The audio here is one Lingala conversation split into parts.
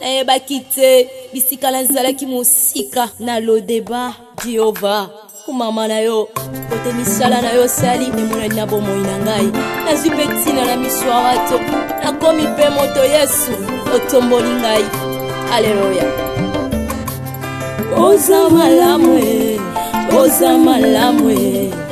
nayebaki te bisika nazalaki mosika na lodeba jehova mama na yo kote misala na yo sali emonani na bomoi na ngai nazwi mpe ntina na miso ya bato nakomi mpe moto yesu otomboli ngai aleluya oza malamu oza malamu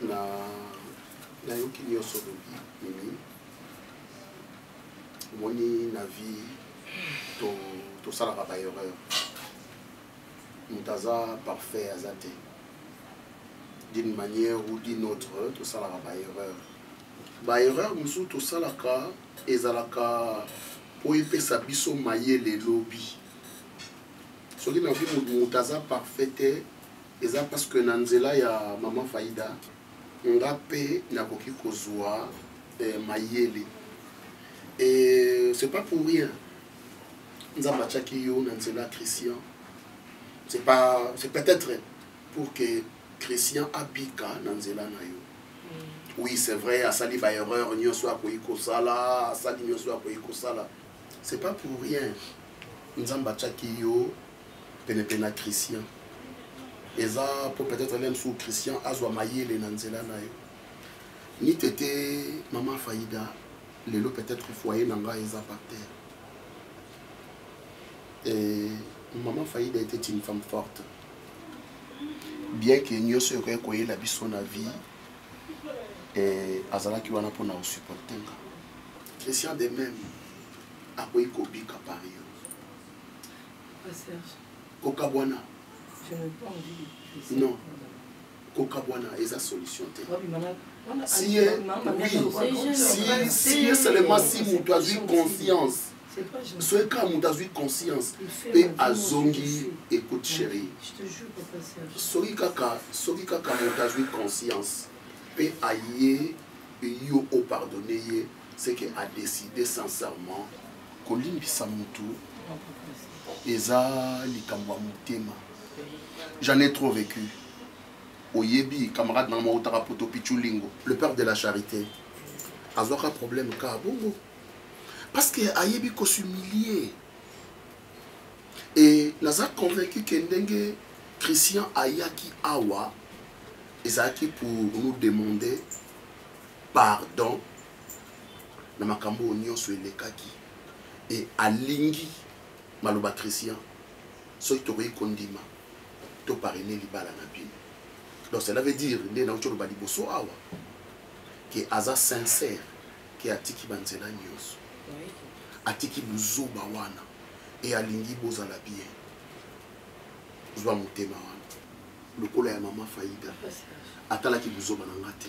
na nayoki nyonso olobi mimi omoni na vie tosalaka to baerreur moto aza parfait aza te d'une manière ou d'une autre tosalaka baerreur baerreur mosusu tosalaka ezalaka mpo epesa biso mayele lobi soki na vie moto aza parfait te eza parce que na nzela ya maman faida nga pe nakoki kozwa eh, mayele et c'est pas pour rien nzambe atiaki yo na nzela christian c'est pas c'est peut-être pour que christian abika na nzela na yo mm. oui c'est vrai asali baerreur nyonso akoki kosala asali nyonso akoki kosala c'est pas pour rien nzambe atiaki yo penepene na christian eza mpo peut-être lem su christian azwa mayele na nzela na yo ni tete mama faida lelo peut-être foyer na ngai eza par terre et mama faida était une femme forte bien que nyonso ekoki koyela biso na vie eh, azalaki wana mpona kosupporte nga christian de même akoki kobika par yo kokabwana non kokabwana eza solution te si ye oui si si ye seulement si moto azwi conscience soki kaka moto azwi conscience mpe azongi écoute chérie soki kaka soki kaka moto azwi conscience mpe aye yo opardonne ye c'est que a décider sincèrement kolimbisa mutu eza likambo ya motema j'en ai trop vécu oyebi camarade nanga moko otaka poto pichulingo le père de la charité azwaka problème ka bongo parce que ayebi kosumilie e naza convaincu ke ndenge christian ayaki awa ezalaki pour nous demander pardon na makambo oyo nyonso elekaki e alingi maloba christian soki tokoki kondima toparene libala na bino donc cela veut dire nde nauti oloba liboso awa ke aza sincère ke atiki banzela nyonso atiki buzoba wana e alingi bozala bien zwa motema wana lokola ya mama faida atalaki buzoba na nga te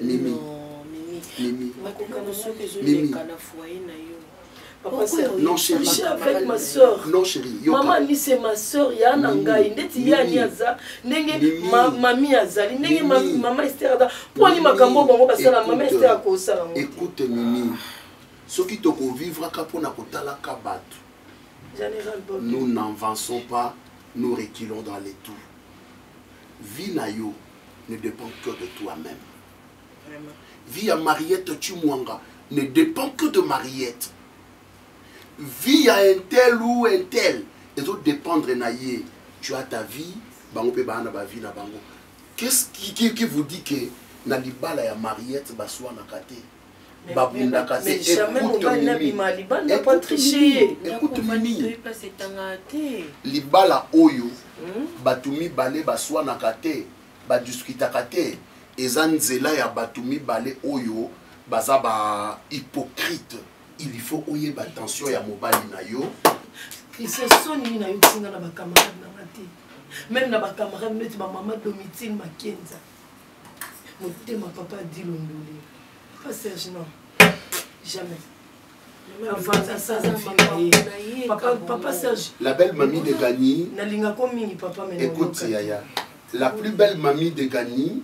mimi mimi mimi non chérie avec ma soeur non chérie mama ni c'est ma soeur ya na ngai ndeti ya ni aza ndenge mami azali ndenge mama Esther aza po ni makambo bango basala mama Esther akosala ngo écoute mimi soki tokovivraka mpo na kotalaka bato nous n'avançons pas nous reculons dans les tours vie na yo ne dépend que de toi-même. Vie à Mariette Chimwanga ne dépend que de Mariette. Vie à un tel ou un tel, et tout dépendre naïe. Tu as ta vie, bango pe baana ba vie na bango. Qu'est-ce qui, qui, qui vous dit que na libala ya Mariette baswa na kate? babundaka te ekutu mimi libala oyo hmm? bato mibale baswanaka te badiskutaka te eza nzela ya bato mibale oyo baza ba hypocrite il faut oyeba tension ya mobali na yo christian soni nini nayokisi nga na bacamarade na nga te meme na bacamarade neti bamama domitine makenza motema papa dilo ndule papa serge non jamais papa serge la belle mamie de gani nalingako mingi papa écoute yaya la plus belle mamie de gani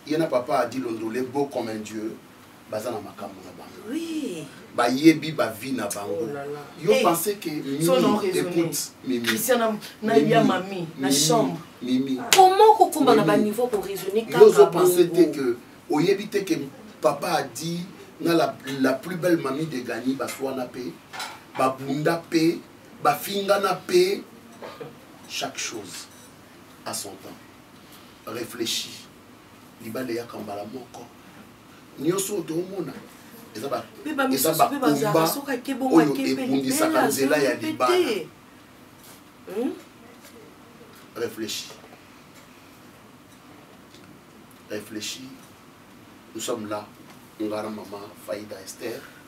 ye na papa adi londole beau comme un dieu baza na makambo na bango oui. bayebi bavi na bango oh là là. yo hey. Eh, pense que mimi écoute mimi christian na ya mami na chambre mimi ah. comment kokoma na baniveau koraisonne kaka ozo pense te que oyebi te que papa a dit na la, la plus belle mami de gani baswana mpe babunda mpe bafingana mpe chaque chose à son temps réfléchis libala eyaka mbala moko nyonso oyo toomona eza bakomba oyo ebundisaka nzela ya libala hmm? réfléchi réfléchi nous sommes là ngara mama faida esther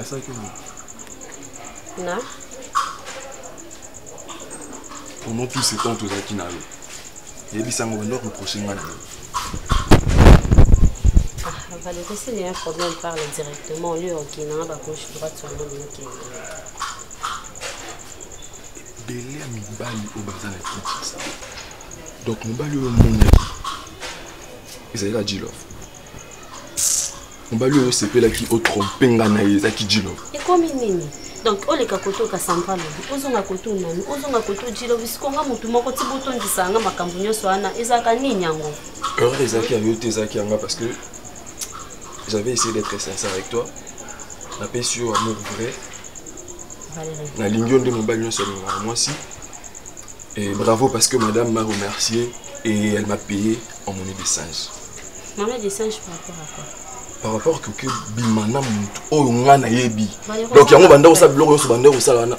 asalaki nini na pendant tout ce temps tozalaki na yo yebisa yango bando reproche ngai na yo valete s'il y a un problème parle directement au lieu okina na bagauche droite sur le mokende ebele ya mibali oyo baza na kinshasa donc mobali oyo omonaki ezali ka jilov mobali oyo osepelaki otrompe nga na ye ezalaki jilov ekomi nini donc oleka koto kasamba lobi ozonga koto nani ozonga koto jilov sikonga motu moko ti botondisa yanga makambo nyonso wana ezalaka nini yango erreur ezalaki ya yo te ezalaki yanga parce que j'avais essayé d'être sincère avec toi napesi yo amour vrai nalingi yo nde mobali nyonso alingaka mwasi et bravo parce que madame m'a remercié et elle m'a payé en monnaie de singe monnaie de singe par rapport à quoi par rapport que bima na motu oyo ngai nayebi donc yango banda kosala biloko nyonso banda kosala wana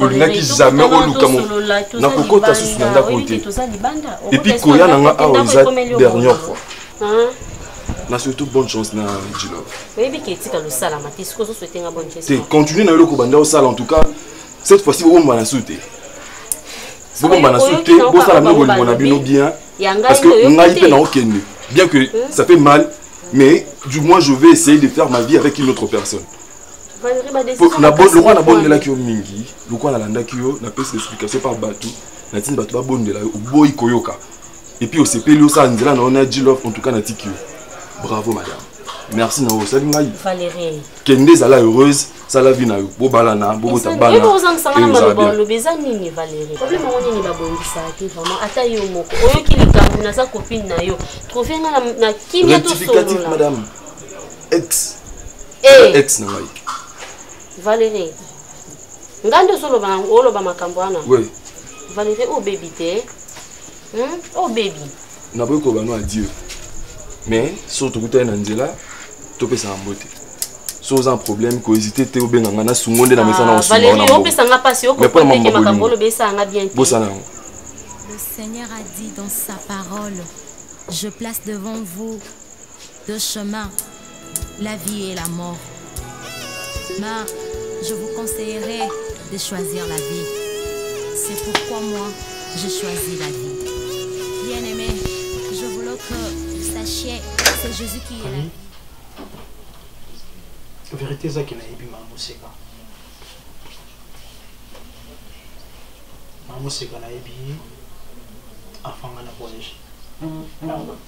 olingaki jamais oluka na kokota susu na ndako te epuis koya na nga awa eza dernière fois na surtout bonne chance na jilove oyebi ke etika losalama te soki ozoswete nga bonne chance te continue na yo eloko banda osala en tout cas cette fois ci obomba na su te bobomba na su te bosala bino bolingo na bino bien parce que ngai mpe naokende bien que hmm? ça fait mal mais du moins je vais essayer de faire ma vie avec une autre personne lokola nabondelaki yo mingi lokola nalandaki yo napesi explication par bato natindi bato babondela yo oboyi koyoka epuis osepeli osala nzela na yo na jilove en tout cas natiki yo bravo madame merci na osali ngai kende ezala heureuse sala vi na yo bobalana bobota banaolobi eza nini valérie problème yango nini babongisaka te vraiment ata yo moko oyoki likambo naza copine na yo trouve nga na kimia tosolola madame ex hey. Eh. ex na ngai valerie ngai nde ozoloba yango oloba makambo wana oui. valerie obebi te hmm? obebi naboyi koloba no adieu mais soki tokutani na nzela topesaka mbote so oza problème kohésite te obenga ngai nasungo nde na mesa na kosungaopesanga mpasi okokoteke makambo olobesaka ngai bien te bosana yango Le Seigneur a dit dans sa parole, je place devant vous Deux chemins, la vie et la mort. Mais je vous conseillerais de choisir la vie. C'est pourquoi moi, j'ai choisi la vie. Bien aimé, je voulais que vous sachiez que c'est Jésus qui est la vie. verité ezaki nayebi mama moseka mama moseka nayebi afanga na collège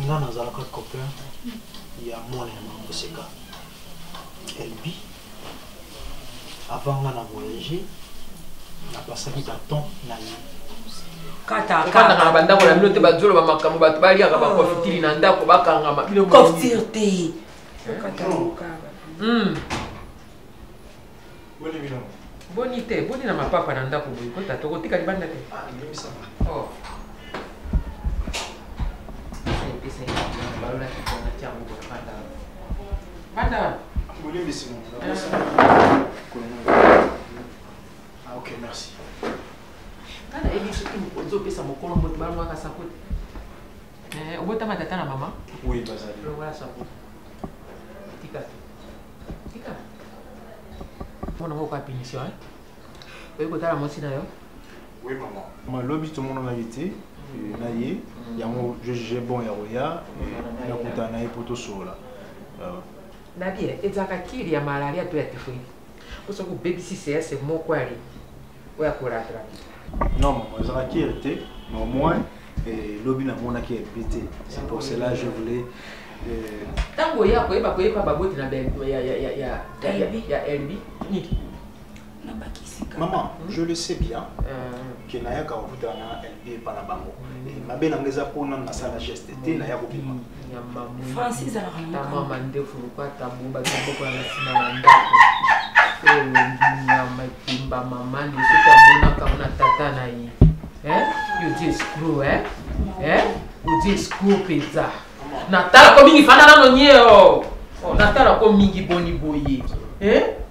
nga nazalaka copain ya mwana ya mangoseka elbi avant nga na voyage napasaki ta temps na ye kofandaka na bandako na bino te bazoloba makambo bato baliaka bakofitiri na ndako bakangama bino kofitiri te boni bino boni te boni na mapapa na ndako boye kota tokotika libanda te ah, oh. banda bolimbisi ah, ok merci kana ebi soki mokonzi opesa mokolo mbote balongaka sakote eh, obotama tata na mama oui bazali lokola sakote Tika. Tika. Mwana moko a punition, hein? Oye kotala mwasi na yo? Oui, maman. Ma lobi tout le monde en a été. na ye yango je juge bon ya koya nakutana na ye mpo tosolola euh. nabi ezalaka kiri ya malaria to ya typhoide oso kobebisi sease moko ali oyo ako rattraper non maman ezalaki ere te mais au moins eh, lobi namonaki ebi te c'est pour cela je voulais ntango oya koyeba koyeba baboti na elbi nini maman hmm? je le sais bien euh. ke nayaka kokutana na elbi epa na bango hmm. mabe na nga eza mpo nanu nasala geste te hmm. naya kobima france ezalaka ntango mandefu lokola tabu bato babokola na nsima na ndako oyo nyama ekimba mama nde soki amonaka na tata na ye odi escro odi escro mpenza natalako mingi fanda nano nyeo oh, natalako mingi boni boye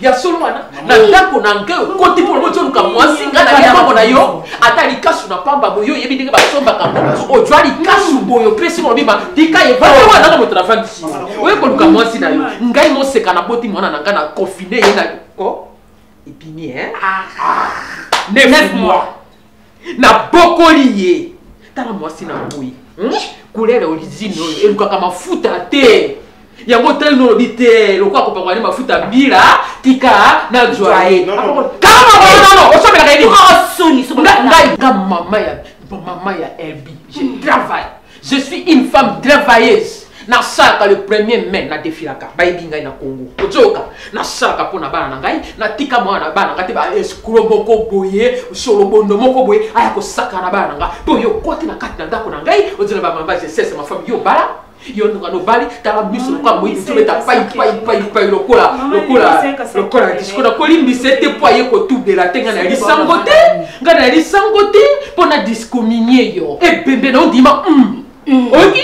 ya solo wana na ndako na ngai okoti mpo lobo toluka mwasi ngai na libongo na yo ata likasu na pamba boye oyebi ndenge basombaka ngo ojwa likasu boye opesi molobima tika evanda wana na moto na vandi oye koluka mwasi na yo ngai moseka na boti mwana na ngai na confine ye na ebimi e neuf mois nabokoli ye tala mwasi na boyi hmm? kulele olizini oyo elukaka mafuta te yango otali nolobi te lokola kopakwa ne mafuta mbila tika nazwa ye osomela ngai mama ya elbi je travaille Je suis une femme travailleuse. nasalaka le premier mai nadefilaka bayebi ngai na congo ozoyoka nasalaka mpo na bana na ngai natika mwana na bana na ngai te baescro moko boye solobondo moko boye aya kosaka na bana na ngai mpo yo okwaki na kati na ndako na ngai ozela bamamba jesese mafami yo bala yo ndonga nobali tala miso lokola moyi tobeta paipaipai lokola lokola lokola disiko nakolimbisa ete mpo aye kotubela te ngai nayalisango te nga nayali sango te mpo na discominie yo ebembe na ondima mm. oyoki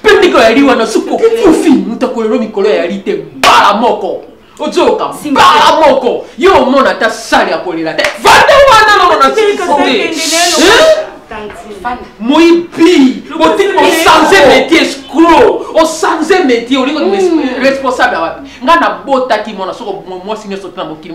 mpe ndenge oyali wana suku okufi moto akolelo mikolo yayali te mbala moko ozoyoka mbala moko yo omona ata sale ya kolela te vanda wana nono na sikisonge moyibi otiki osanze métier escro osanze métier olingi responsable ya wapi ngai nabotaki mwana soko mwasi nyonso te na mokili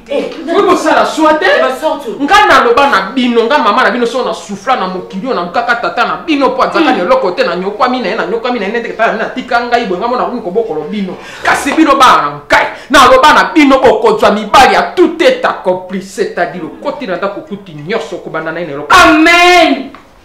okoki kosala swa te ngai naloba na bino ngai mama na bino soko na sufla na mokili oyo nalukaka tata na bino mpo azaka na hmm. eloko te nanyokwami na ye nanyokwami na ye nete tata na bino atika ngai boye ngai mona komi kobokolo bino kasi bino bana na ngai naloba na bino okozwa mibali ya tout est accompli c'est-à-dire okoti na ndako okuti nyonso okobanda na ye na eloko amen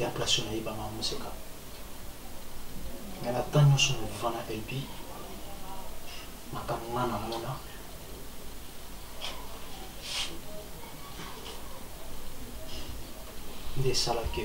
ya place oyo nayeba mama moseka mais na temps nyonso na viva na lb makambo nga namona nde esalaki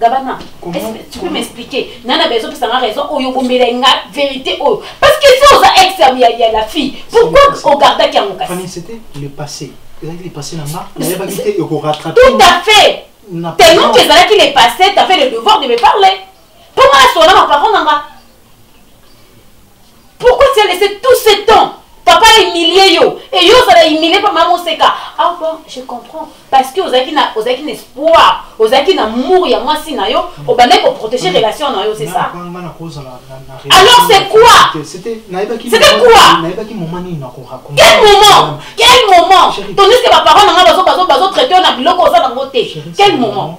Gabana, tu peux m'expliquer Nana bezo pesa nga raison oyo bombela nga vérité oyo parce que si oza ex ya ya la fille pourquoi au garda qui angoka Fanny c'était le passé ezalaki le passé na nga nayebaki te eko rattraper tout à fait tellement que ezalaki le passé t'as fait le devoir de me parler mpo nga asona maparon na nga Pourquoi tu as laissé tout ce temps papa humilie yo et yo ozala humilie mpa mama oseka ah bon je comprends parce que ozalaki na ozalaki na espoir ozalaki na mour ya mwasi na yo obandaki koprotege relation na yo c'est ça alors c'est quoi c'était quoi quel moment quel moment tandis que baparent na nga bazotraite yo na biloko oza nango te quel moment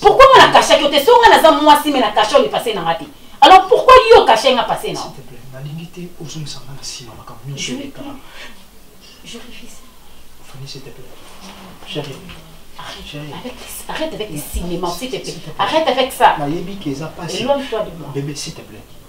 pourquoi nga na kashaki yo te so nga naza mwasi me na kasha yo lipase na nga te alors pourquoi yo kasha nga pase na nalingi te ozongisa nga na nsima makambo nyonso eleka fani s'il te plaît chérie Arrête avec les cinémas, s'il te plaît. Arrête avec ça. Éloigne-toi de moi. Bébé, s'il te plaît.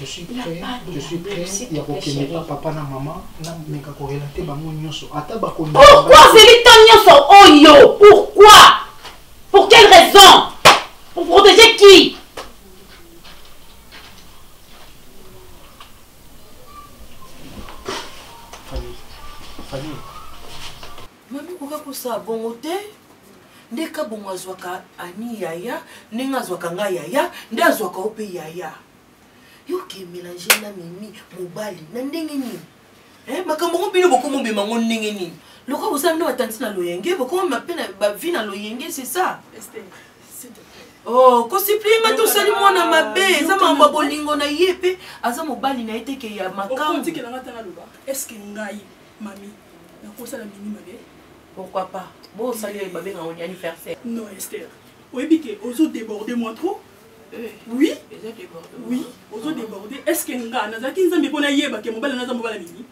je suis prêt je suis prêt ya kokende pa papa na mama nameka korelate bango nyonso ata bakoni pourquoi ozeli ta nyonso oyo oh, pourquoi pour quelle raison pour protéger qui mami koka kosala bongo te nde kabongo azwaka ani yaya ndenge azwaka ngai yaya nde azwaka yo mpe yaya yoke mélange na mimi mobali na ndenge nini eh, makambo ngo bino bokomobema ngo ndenge nini lokola bosala nde batanti na loyenge bokomama mpe na bavi na loyenge c'est ça oh kosiplie nga tosali mwana mabe eza makambo ya bolingo na ye mpe aza mobali na ye teke ya makambo Mami, nakosala mimi mabe. Pourquoi pas? Bo sali yo babe na woni anniversaire. Non Esther, oyebi ke ozo déborder moi trop. Eh, oui, eza déborder. Oui, ozo déborder. Est-ce que nga nazaki nzambe mpo nayeba ke mobali naza mobali mimi?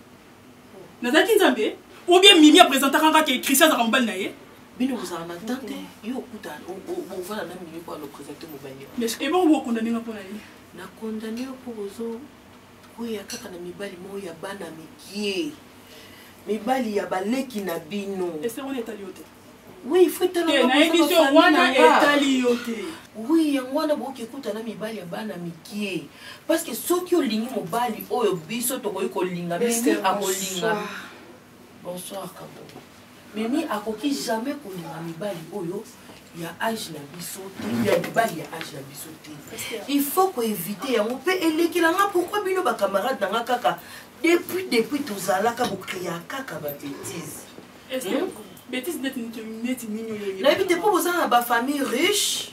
Oh. Nazaki nzambe? Ou bien mimi apresentaka nga ke Christian azaka mobali na ye? bino bozala na temps te yo okuta bovanda na milieu mpo alopresente mobali ebongo bokondane nga mpo na ye nakondane yo mpo bozo Boya kaka na mibali moko ya bana mikie. Mibali ya baleki na bino. Ese wana etali yo te. Oui, il faut etala eh, na emission wana etali yo te. Oui, yango wana boki ekuta na mibali ya bana mikie. Parce que soki olingi mobali oyo biso tokoki kolinga mimi akolinga. Bonsoir Kabongo. Mimi akoki jamais kolinga mibali oyo ya age na biso te ya mibali ya age na biso te il faut koevite yango mpe elekela nga pourkui bino bacamarade na nga kaka depuis depuis tozalaka bokrea kaka babetise nayebi te mpo boza na bafamille riche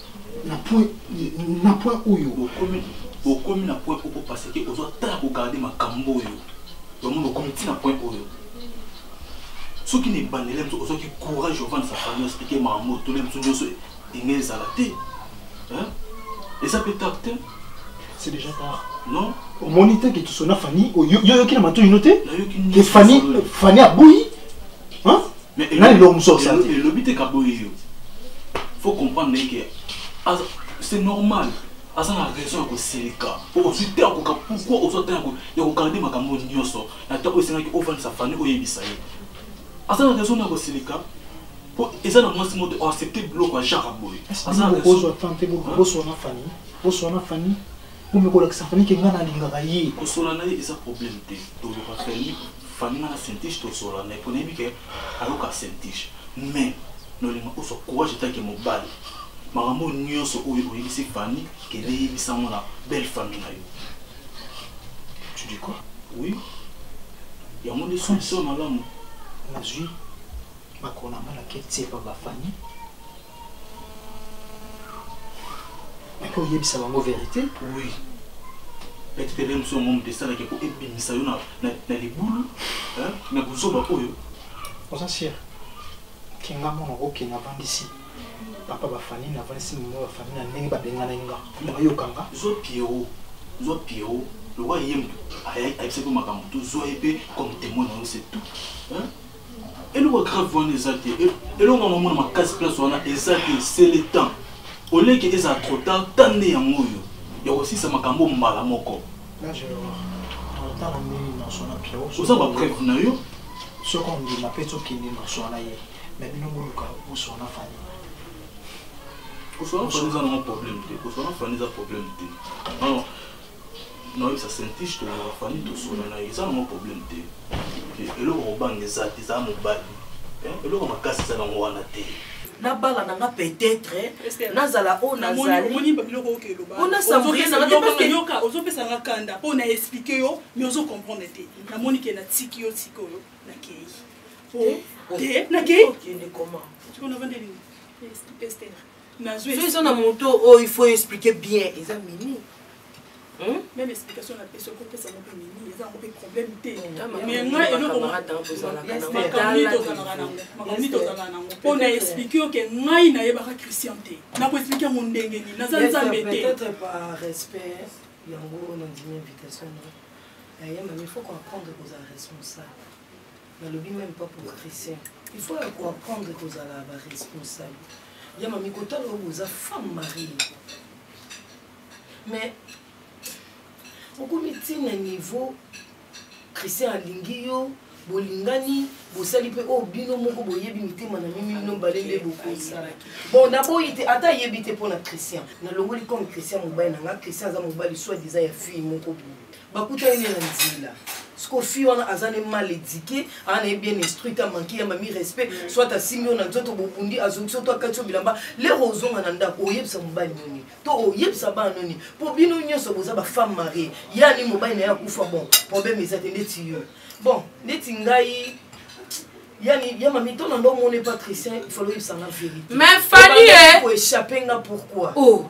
na point na point oyo bokomi bokomi na point oko parce que ozo tala ko garder makambo oyo donc nous bokomi ti na point oyo soki na ebandela mosu ozwaki courage ovanda sa famille explike makambo oyo tole mosu nyonso enge ezala te eza mpe tard te c'est déjà tard non omoni te ke tosona fanny oyoki na matoi no te ke fanny aboyi Mais nani eloko mosusu osala te elobi te kaboye yo faut comprendre naye ke c'est normal aza na raison ya kosilika ozwi te akoka pourkoi ozwa te ya kogarde makambo nyonso na ntango oyo esengaki ofandisa fani oyebisa ye aza na raison na kosilika mpo eza na mwasi moto oaccepte biloko ya jara boye aza na raison boswana fani boswana fani Bomi kolakisa Fanny ke nga nalingaka ye. Kosola na ye eza problème te. Toluka Fanny, Fanny nga na Saint-Tiche tosola na ye po nayebi ke ayoka Saint-Tiche. Mais nolinga ozwa courage etant ke mobali. Makambo oyo nionso oyo oyebisi Fanny kende yebisa yango na belle famille na yo. Tu dis quoi? Oui. Yango nde solution malamu. Nazwi makolo na nga nake tie epa ba Fanny. mpe oyebisa bango verité oui petitele mosu yango moto esalaki po ebimisa yo na libulu na buzoba oyo oza sire kinga mwana okokende avandisi papa bafani na avandisi mama bafani na ndenge babengana nga nayoka nga zwa piero zwa piero lokola ye moto ayebisaki makambo tozwa ye mpe comme témoin na yo c'est tout eloko ya grave wana eza te e, eloko yango omona makasi place wana eza te c'est le temps oleke ezala trop tard ta nde yango oyo ya kosilisa makambo mbala moko oza bapreuve na yo soki ondima mpe tokende noswana ye me bino boluka oswana fani koswana fani eza nango problème te koswana fani eza problème te noyebisa sentiste na bafani tosona na ye eza nango problème te eloko kobanga eza te eza mobali eloko makasi eza nango wana te nabala na nga peut-être nazala oyo nazaliona sambrie na ngaozopesa nga kanda mpo na explike yo mais ozo comprendre te namoni ke natiki yo sikoyo nakei te nakei nazwi eza na moto oyo oh, il faut expliquer bien eza mini hmm? même explication na pesi okopesa ngo mpe mini eza yango mpe problème te mais nga elokomakamoni tozalaka nango mpo na explike yo ke ngai nayebaka christian te nakoexplike yango ndenge nini naza nzambe te yango nandimi invitation na yayema mais faut comprendre kozala responsable nalobi meme pas pour christian il faut ya koapprendre kozala baresponsable ya mami kotala oyo boza femme marie mais okomi ntina niveau christian alingi yo bolingani bosali mpe oyo oh, bino moko boyebi mitema na mimi bino mbale nde bokosala bon naboyi te ata ayebi te mpo na christian nalongoli comme christian mobali na nga christian aza mobali soit diza ya fille moko boye bakutani ne na nzela siko fille wana aza ne mal éduqué aa na ye bien instruit ta manki ya mami respect mm. soit asimbi yo na nzoto bobundi azongisi yo to akati yo bilamba lero ozonga na ndako oyebisa mobali nini to oyebisa bana nini mpo bino nyonso boza bafemme marie yani mobali na ye akufa bon problème eza te ndeti yo bon ndeti ngai yani ya mami to na ndo omoni patricien ifalo oyebisa nga vérité mais fali eh? koéchappe nga pourquoi oh.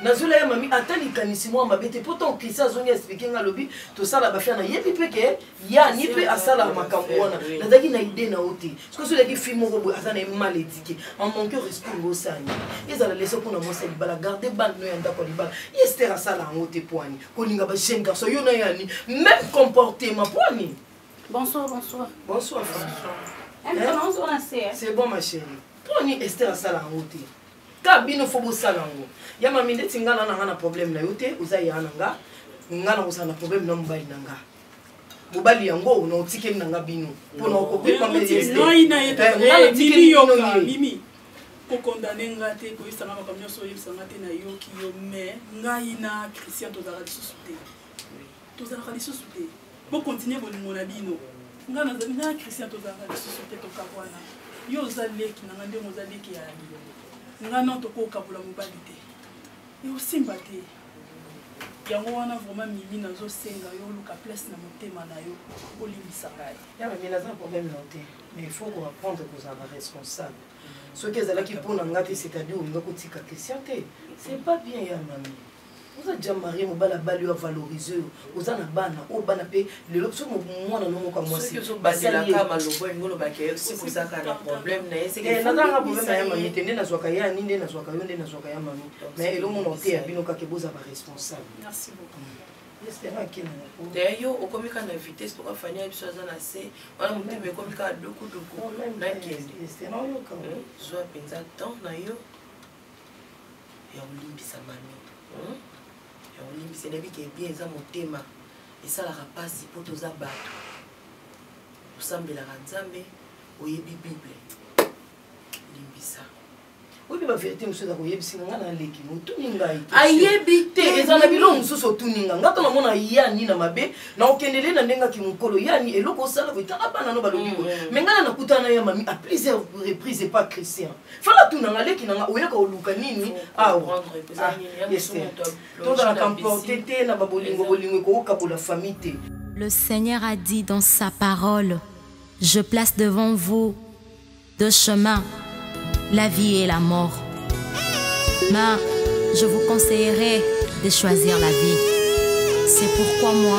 nazwela ye mami ata likanisi mwa mabe te mpo ntango kristian azongi explike nga alobi tosala bafia nayebi mpe ke yani mpe asala makambo wana nazalaki na ide na yo te soki ozolaki fi moko boye aza na ye mal edike amanke respect ngo osani ezala leso mpo na mwasi ya libala garde bande no ya ndako ya libala ester asala yango te poani kolinga ba jeune garçon yo na yani même comportement poani bonsoir bonsoir bonsoir c'est bon ma chérie poani ester asala yango te ka bino fo bosala yango ya mami ndeti nga na nanga na problème na yo te oza ya na nga nga na kozala na problème na mobali na nga mobali yango na otikeli na nga bino mpo na okopema mimi kokondane nga te koyebisanga makambo nyonso oyebisanga te nayoki yo mais ngai na christian tozalaka lisusu te tozalaka lisusu te bo continuer bolingo na bino nga nazali nga christian tozalaka lisusu te tokabwana yo oza leki na nga ndenge oza leki ya yo nga non tokokabola mobali te eosimba te yango wana vraiment mimi nazosenga yo oluka place na motema na yo olimbisa ngai yamemi naza problème na te mais il faut koapprendre kozala responsable soki ezalaki mpo na ngai te c'est-à-dire olinga kotika christian te c'est pas bien ya mami oza ja marie mobali abali oyo avalorise oyo oza na bana oyo bana mpe lelo biso mwana no moko ya mwasibazelaka maloba elingi olobaka yo soki ozaka na problème na ye eh, nazalaka problème na ya mami te nde nazwaka ye ani nde nazwaka yo nde nazwaka ya mami na ye elomona oteya bino kaka eboza baresponsable daya yo okomi kaka na vitesse toka fani ya biso aza na se wana motema ekomi kaka dukuduku oh, nakende zwa mpenza temps na yo ya kolimbisa mami hmm? ya kolimbisa nayebi ke bien eza motema esalaka mpasi mpo toza bato osambelaka nzambe oyebi bible limbisa oyebi baverité mosusu eza koyebisi nga na leki motuni ngai ayebi te eza na biloko mosusu otuni nga nga to namona yani na mabe na okendele na ndenge aki mokolo yani eloko osala koyitaka bana no balobi ko me ngai na nakutana ya mami a plusieurs reprise epa christian fala tunanga leki nanga oya koluka nini awa tozalaka mporte te na babolingo bolingo ekokokabola famille te Le Seigneur a dit dans sa parole, je place devant vous deux chemins, la vie et la mort. Mais je vous conseillerais de choisir la vie. C'est pourquoi moi,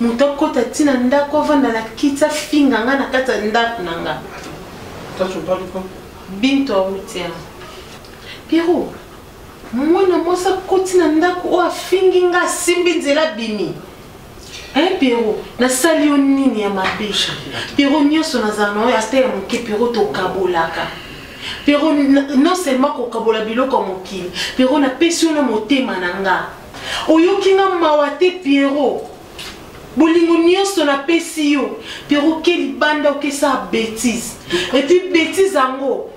moto akota ti na ndako avanda na kiti afinga nga na kati ya ndako na nga binto auti yango piero mwana mwasi akoti na ndako oyo afingi nga asimbi nzela abimi eh, piero nasali yo nini ya mabe piero nyonso nazala na oyo ata ya moke piero tokabolaka piero non seulement kokabola biloko ya mokili piero napesi yo na motema na nga oyoki nga mawa te pierrot bolingo nyonso napesi yo pierrot oke libanda okesa betise epuis betise yango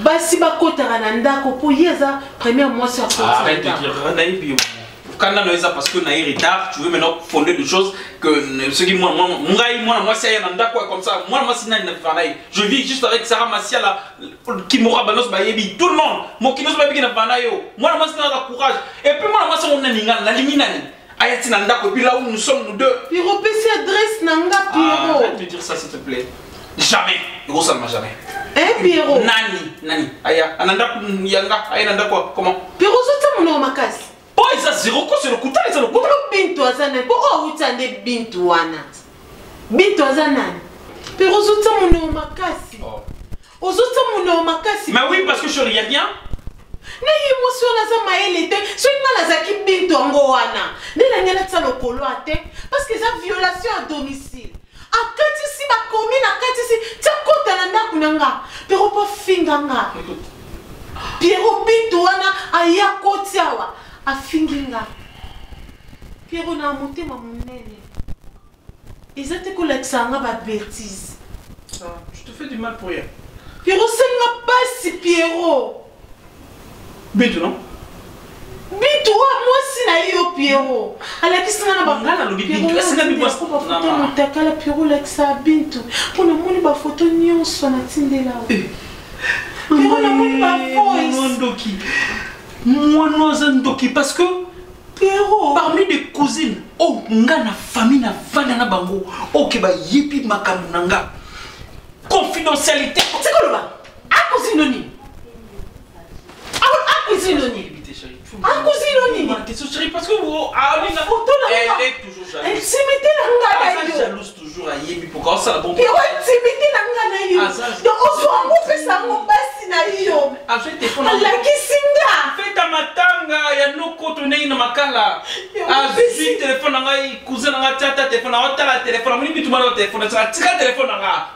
basi bakotaka na ndako mpo ye aza première mwasi akonayebi kanda na eza parce que naye retard tu veux maintenant fonder de choses que soki ngai mwana mwasi aya na ndako ya comme ça mwana mwasi nani na vivana ye je vis juste avec sarah masiala kimora bango nyonso bayebi tout le monde mokili nyonso babiki na bana yo mwana mwasi nanga na courage epuis mwana mwasi yango nani ngai nalingi nani aya ti na ndako epuis là où nous sommes nous deux piro pesi adresse na nga ah, piro ah, te dire ça s'il te plaît jamais ekosalama jamais eh, piro nani nani aya na ndako yanga aya na ndako comment piro ozotia monoko makasi oyo eza zero koso lokuta eza lokuta bintu aza nani mpo oyo awuta nde bintu wana bintu aza nani mpe ozotya moneo makasi oh. ozotya moneo makasi mais oui parce que je regarde bien naye mwasi wana aza mayele te soki ngai nazalaki bintu yango wana nde nangi natia lokolo a te parce que eza violation ya domicile akatisi ba commune akatisi tia kota na ndako na nga pero po finga nga piero bintu wana aya koti awa afingi nga piero na motema monene eza te kolakisa nga ba bertise ah, piero osengi nga pasi piero bitu no bitu wa mwasi na ye yo piero alakisi nga na bangana alobi bitu esika bibafoto motakala piero olakisa bintu mpo namoni bafoto nyonso natindela eh. piero namoni bafoisndoki mwana aza ndoki parce que Pierrot. parmi des cousines oyo oh, nga na famille na vanda na bango oke oh, bayebi makambo na nga confidentialité otikoloba telefone na ngai cousin na ngai tia ata telefone na ngai otala telefone amoni bitu mwana telefone tika telefone na ngai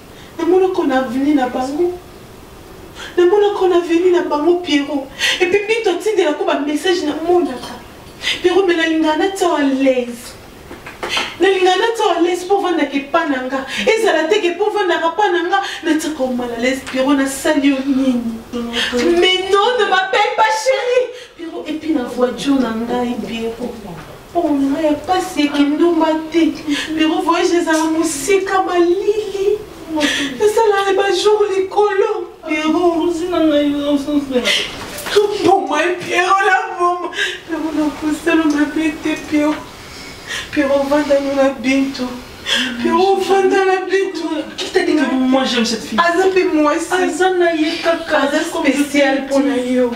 Na mona ko na avenue na bango na mona ko na avenue na bango Pierrot et puis bitu atindela ko ba message na monaka Pierrot mais nalingaka natia yo à l'aise nalingaka natia yo à l'aise mpo ovandaka epa na nga ezala te ke mpo ovandaka pa na nga natiaka yo mal à l'aise Pierrot nasali yo nini mais non ne m'appelle pas chérie Pierrot et puis na voiture na ngai Pierrot Oh, mama ya pasi ya kindumba te pero voyage ezala mosika malili esalaka bajour likolo pero ozina ngai ososela mboma ye piero na mboma pero nakosala mabe te piero piero ovandani na bintu piero ovanda na bintu aza mpe mwasi aza na ye kaka aza spécial mpo na yo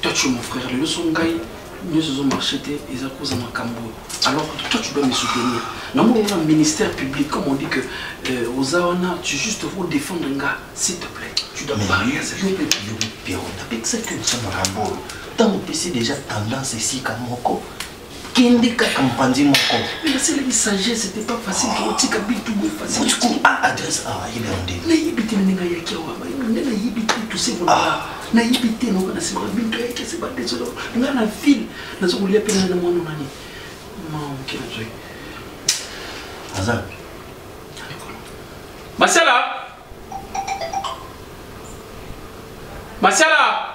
Toi tu es mon frère, le son ngai nyonso ezo marché te eza koza makambo oyo alors toi tu dois me soutenir namoni wana ministère public comme on dit que euh, oza wana tu juste faut défendre nga s'il te plaît tu dois parler yo mpe napekisaki yo nsomo rambolo ntango opesi déjà tendance esika moko kende kaka mpanzi moko nasalaki sagesse te pas facile ke otika bitu boye facileku a adresse awa yebi yango nde nayebi te ndenge ayaki awa nde nayebi te tosekola ah. nayebi te naoka nasekola bintu ayaki aseba desolo nga na ville naza kolia mpe ngai na mwana nani maoke nazoi aza masala masala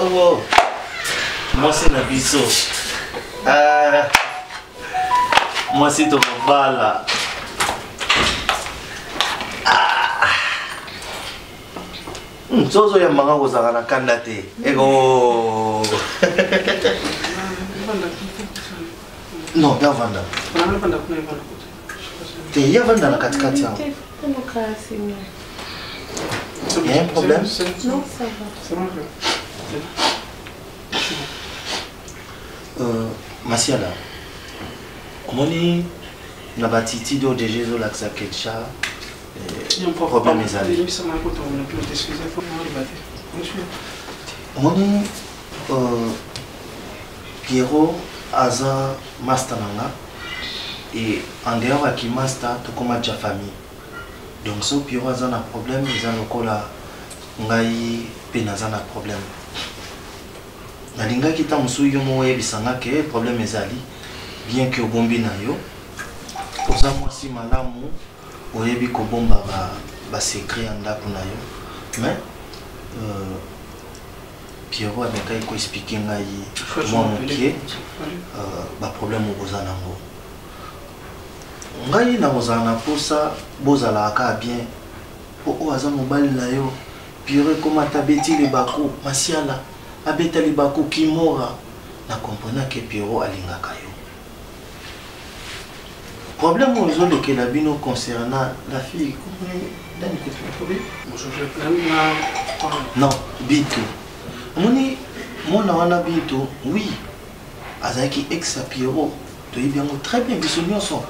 Oh, mwasi na biso ah, mwasi tokobala ah. hmm, so ozoyambanga kozalaka na kanda te eko non mpe avanda te ye avanda na katikati yango Il y a un problème Non, ça va. C'est bon. Euh, Masiala, omoni na batitidi oyo deja ezolakisa ketcha problème ezali omoni Pierrot aza masta na nga et en dehors ya ki masta tokoma ja famille donc so Pierrot aza na problème eza lokola ngai pe naza na problème nalingaki ntango mosusu yo moko oyebisa nga ke problème ezali bien ke obombi na yo oza mwasi malamu oyebi kobomba basecret ba ya ndako na yo mais euh, Pierrot amekaki ko expliquer ngai mwa moke euh, ba problème okoza nango ngai nakozala na posa bozalaka kaka bien po oyo aza mobali na yo Pierrot ekoma ata abeti libaku masiala abeta libaku kimora na comprenaki Pierrot alingaka yo problème oyo ezolekela bino concernant la fille non bintu omoni mwana wana bintu oui azalaki ex ya pierrot toyebi yango très bien biso nyonso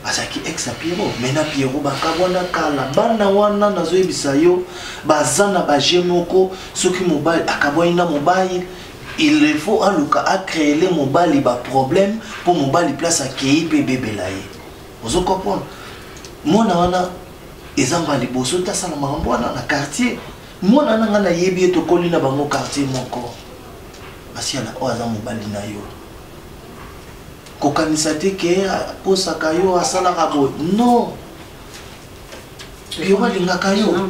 azalaki ex ya pierrot mai na pierrot bakabwana kala bana wana nazoyebisa yo baza na baje moko soki mobali akabwani na mobali il faut aluka acreele mobali baproblème mpo mobali place akei mpe ebebela ye ozo comprendre mwana wana eza mba liboso te asala makambo wana na quartier mwana wana ngai nayebi ye tokoli na bango quartier moko asiala oyo aza mobali na yo kokanisa te ke akosaka yo asalaka boye non yo balingaka yo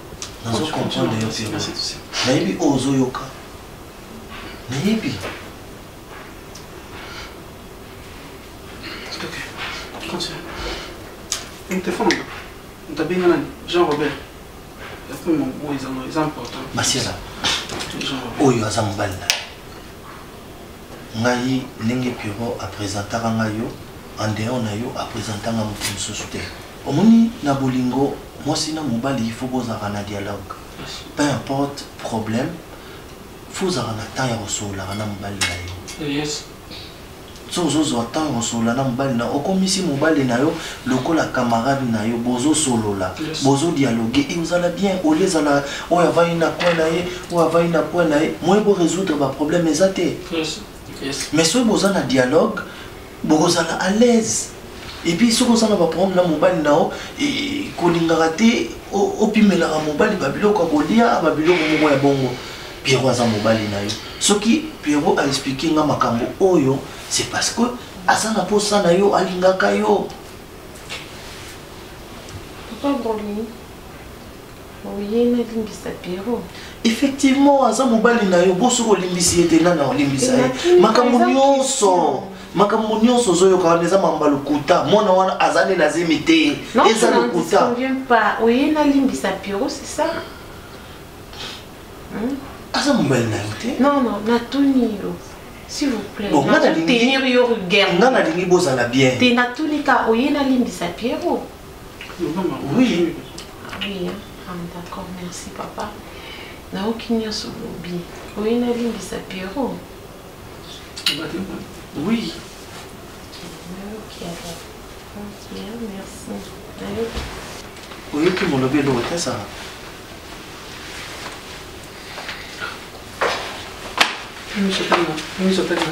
nazo comprendre yo te nayebi oyo ozoyoka nayebi telefone moto abenga nani jean robert yakomi oyo eza important basiela oyo aza mobali na ngai ndenge pierrot apresentaka ngai yo en dehors na yo apresentanga moto mosusu te Omoni na bolingo mwasi na mobali il faut bozalaka na dialogue peu importe problème faut ozalaka na temps ya kosololaka na mobali na yo yes. so ozozwa temps kosolola na mobali na yo okomisi mobali na yo lokola camarade na yo bozosolola Yes. bozodialogue e ozala bien olie ezala oyo avandi na coin na ye oyo avandi na coin na ye moye boresoudre baproblème eza te Yes. Yes. mais soki boza na dialogue bokozala à l'aise et puis soki oza na ba problème na mobali na yo kolingaka te opimelaka mobali ba biloko ya kolia ba biloko moko ya bongo pierrot aza mobali na yo soki pierrot a expliquer nga makambo oyo c'est parce que aza na posa na yo alingaka yo papa brolin oye nalimbisa piero effectivement aza mobali na yo bo soki olimbisi ye te nani olimbisa ye makambo nyonso makambo nyonso ozoyoka wana eza mamba lokuta mwana wana aza nde na zemi te eza lokuta oye nalimbisa piero c'est ça hmm? aza mobali na yo te non non natuni yo s'il vous plaît bon, nazotenir yo rigueur nga nalingi bozala bien te natuni ka oye nalimbisa piero Oui. Oui, hein? ah, d'accord, merci papa. nayoki nyonso olobi oye nalimbisa piero oui oyoki molobi eloko te sala miso tanga miso tanga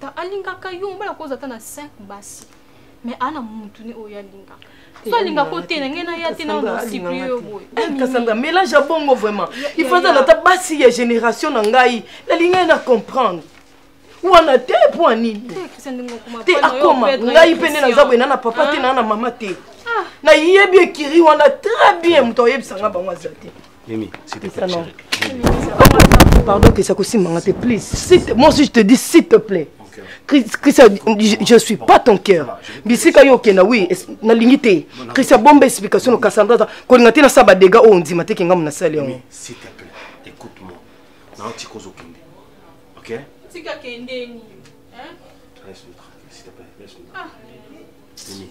Ta alingaka yo mobala koza ata na 5 basi. Mais ana mutu ne oyo alingaka. Eh, so alinga ko te na ngai na ya te na no sipri yo boye. Eh, Kasanga mélange ya bongo vraiment. Il faut na ta basi ya génération na ngai. Na linga na comprendre. wana te mpo ya nini te akoma ngai mpe nde naza boye na na papa te na na mama te ah. nayebi ekiri wana très bien moto ayebisa ngai bango aza te Mimi, s'il te plaît, Pardon, que ça aussi m'a te please. Moi aussi, je te dis, s'il te plaît. Christian, je ne suis pas ton cœur. Bisika yo kena oui, na lingite. Christian bombe explication au Cassandra. Ko ngate na saba dega o ndima te kinga mona sale yango. S'il te plaît, écoute-moi. Na oti ko zo kende. OK? Tika kende ni. Hein? Laisse-nous tranquille, s'il te plaît, laisse-nous. Ah. Mimi.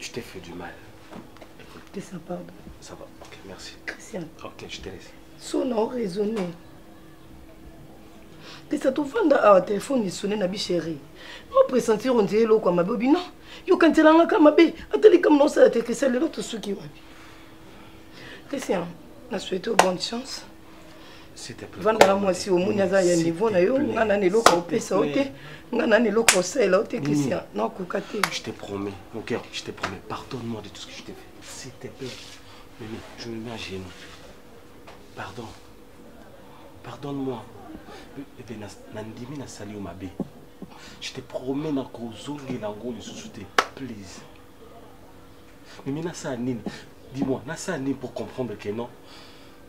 Je t'ai fait du mal. Écoute. Ça va. Ça va. Ok, merci. Christian. Ok, je te laisse. Son a raisonné. pesa tovanda awa telefone esone na bi chéri opresentir ondie eloko ya mabe obi non yokanzelangaka mabe ata likambo na osala te christian lelo tosuki wapi christian na souhaite bonne chance vandaka mwasi omoni aza ya niveau na yo nga nani eloko opesa yo te nga nani eloko osalela yo te christian nakoka te je te promets mon cœur je te promets pardonne moi de tout ce que je te fais s'il te plaît mimi je me mets à genoux pardon pardonne moi ebe nandimi nasali yo mabe je te promets nakozongela yango lisusu te please mimi nasala nini dis-moi nasala nini pour comprendre que non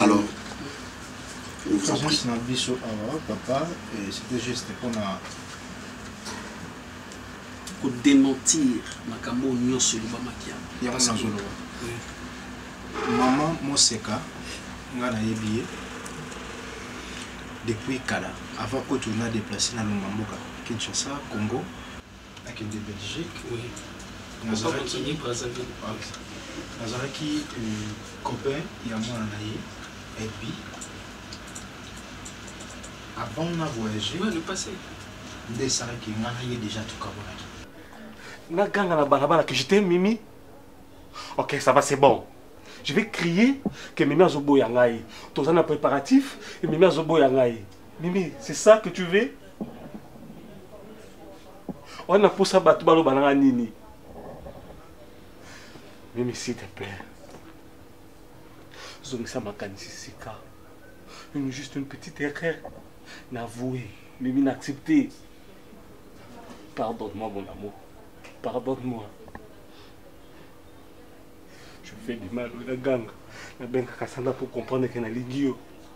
alors présence na biso awa ah, papa c'était juste mpona kodementir makambo oyo nyonso elobamaki yango nazoloba mama moseka ngai nayebi ye depuis kala avant kutu na déplace na longa mboka kinshasa congo nakende belgique oui. nazalaki euh, copain ya mwana na ye ebi avant na voyage nde esalaki nga na ye déjà tokabolaki naganga na balabala que j'étais mimi ok ça va c'est bon je vais crier que mimi azoboya ngai toza na préparatif mimi azoboya ngai mimi c'est ça que tu veux oa na mposa bato baloba nanga nini mimi s'il te plaît zongisa makanisi sika une juste une petite erreur navoue mimi na accepte pardonne-moi mon amour pardonne-moi je fais du mal na ganga nabengaka sanda pour comprendre ke nalingi yo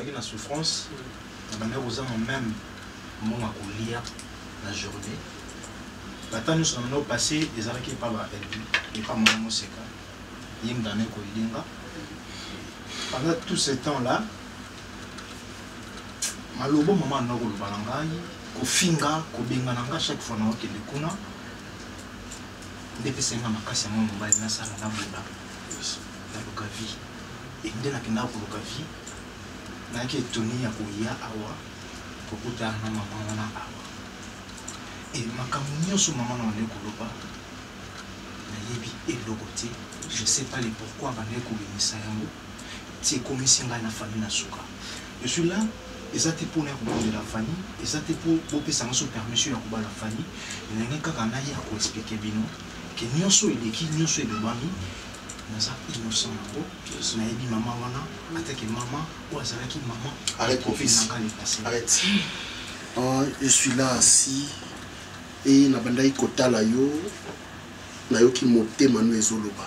nazalaki na souffrance nabandaki kozanga meme mbongo ya kolia na journée bata nyonso na bino passé ezalaki epa ba elbi epa mama moseka ye mdane koyilinga pendant tout ce temps là malobo mama na koloba na ngai kofinga kobengana ngai chaque fois na okende kuna nde epesaki nga makasi yango mobali nasala nabunda naluka vie e nde nakendaka koluka vie nayaki etoni ya koya awa kokuta na mama wana awa e makambo nyonso mama na wana ekoloba nayebi eloko te je sais pas le pourquoi bandaki kobimisa yango ti ekomisi ngai na famille na suka Je suis là eza te mpona ya kobondela fanny eza te mpo bopesa biso permission ya kobala fanny nalingi kaka naye ya koexplike bino ke nyonso eleki nyonso elobami naza innocent yango nayebi mama wana atake mama oyo azalaki mama nanga lepase euh, je suis là asi e nabandaki kotala yo nayoki motema no ezoloba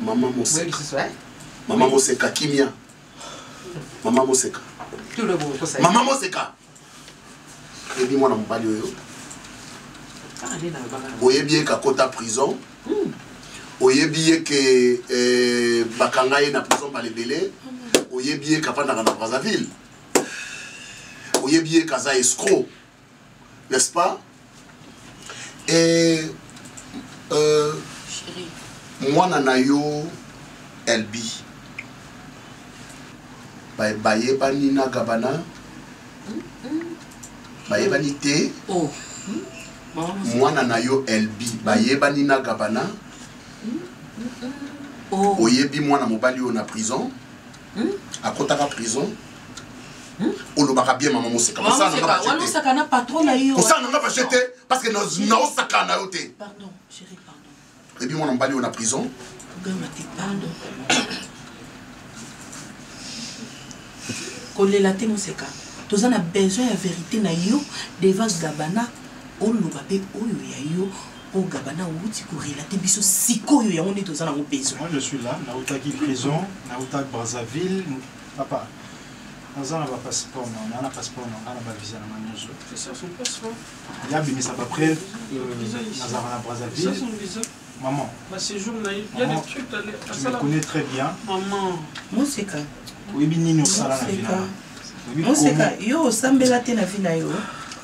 Maman Moseka. Hein? Maman Moseka kimia. Maman Moseka. Maman Moseka. Ebi mwana mobali oyo. Ah, oyebi ye kakota prison hmm. oyebi ye ke eh, bakanga ye na prison bala ebele oyebi ye kafandaka na brazzaville oyebi ye kaza escro n'est-ce pas et euh, mwana na yo elbi bayebani na gabana bayebani te oh. mwana na yo elbi bayebani na gabana oh. oyebi mwana mobali oyo na prison hmm? akotaka prison Hmm? olobaka bien mama moseka kosala nanga baje te parce que naosaka na yo te ebi mwana mobali oyo na prison kolela te moseka toza na besoin ya verité na yo devant gabana oloba mpe oyo ya yo Oyo Gabana outi ko relate biso sikoyo yango nde toza nango besoin. Moi je suis là, nautaki prison, nautaki Brazzaville, papa naza na bapasseport na nga na passeport na nga na bavisa na nga nyonso ya bimisa bapreve nazalaka na brazzaville maman tu me connais très bien moseka oyebi nini osala na vina moseka yo osambela te na vi na yo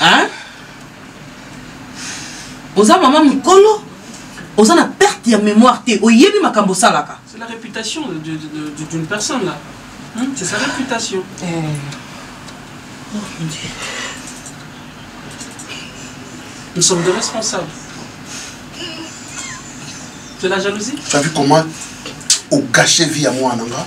hein oza mama mukolo oza na perte ya mémoire te oyebi makambo osalaka c'est la réputation d'une personne là hmm? c'est sa réputation eh. oh, mon Dieu. nous sommes des responsables c'est la jalousie tu as vu comment ogashe vie ya mwana nga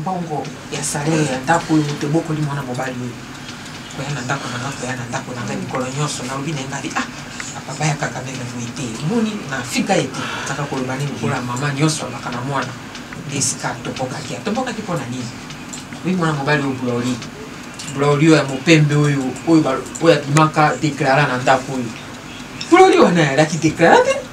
mbongo ya salere ya ndako oyo moto ebokoli mwana mobali oyo koya na ndako na nga koya na ndako na ngai mikolo nyonso nalobi na ye ngai ah papa ya kaka ndenge boye te moni na fika ye te azaka koloba nini lokola mama nyonso alobaka na mwana nde esika atobokaki atobokaki mpo na nini oyi mwana mobali oyo buloli buloli oyo ya mopembe oyo oyo abimaka deklare na ndako oyo buloli wana alaki deklare te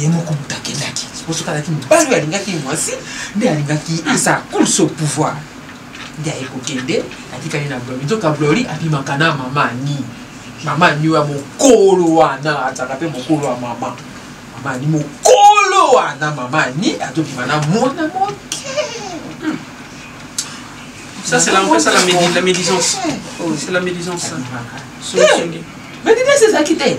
ye moko moto akendaki soki azalaki mobali oyo alingaki mwasi nde alingaki esa course au pouvoir nde aye kokende atikali na blori nzoka blori abimaka na mama ani mama ani oyo ya mokolo wana azalaka mpe mokolo ya mama mama ani mokolo wana mama ani azobima na mwana moke Ça, c'est la, ça, la, médisance. C'est la médisance. Médisance, c'est ça qui t'aide.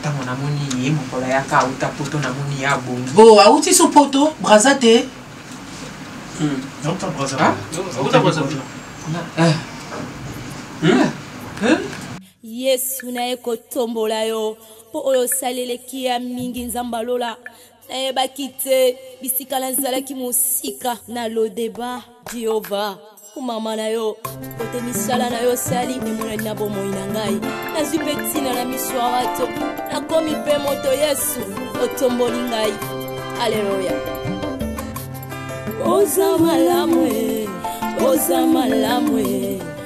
ntango namoni ye mokolo ayaka auta poto namoni ye abongi o oh, auti so poto braza te hmm. ah? eh. hmm? eh? yesu na ye kotombola yo mpo oyo osali eleki ya mingi nzambe alola Nayebaki te bisika nazalaki mosika na lodeba Jehova. Komama na yo kote misala na yo sali emonani na bomoi na ngai. Nazwi mpe ntina na miso ya bato, nakomi mpe moto Yesu otomboli ngai. Aleluya! Oza malamu, oza malamu.